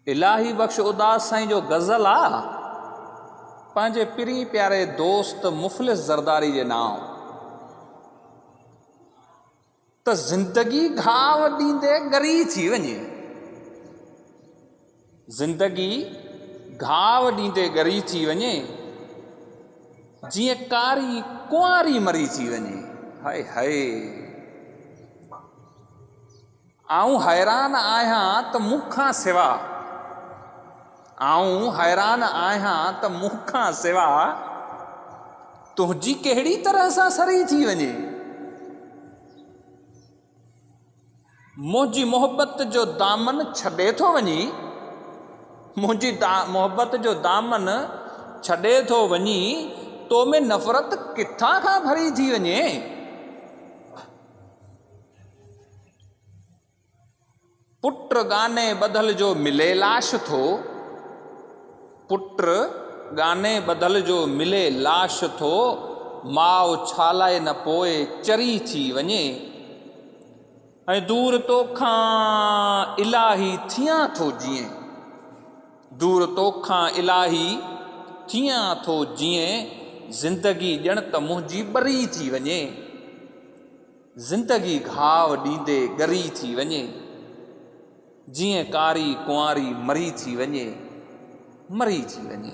الاهي بخش اداس سائين جو غزل آ پنهنجي پرين پياري دوست مفلس زرداري جي نام ته زندگي گهاو ڏيندي ڳري ٿي وڃي زندگي گهاء ڏيندي ڳري ٿي وڃي، جيئن ڪاري ڪنواري مري ٿي وڃي. هاء هاء! آئون حيران آهيان ته مون کان سوا، آئون حيران آهيان ته مون کان سوا تنهنجي ڪهڙي طرح سان سري ٿي وڃي. منهنجي محبت جو دامن ڇڏي ٿو وڃي، منهنجي محبت جو دامن ڇڏي ٿو وڃي، تو ۾ نفرت ڪٿان کان ڀري ٿي وڃي. پٽ ڳاني ٻڌل جو ملي لاش ٿو، پٽ ڳاني ٻڌل جو ملي لاش ٿو، ماء ڇالاء نه پوء چري ٿي وڃي، ۽ دور توکان الاهي ٿيان ٿو جيئين، دور توکان الاهي ٿيان ٿو جيئين، زندگي ڄڻ ته منهنجي ٻري ٿي وڃي. زندگي گهاء ڏيندي ڳري ٿي وڃي، جيئن ڪاري ڪنواري مري ٿي وڃي، مري ٿي وڃي.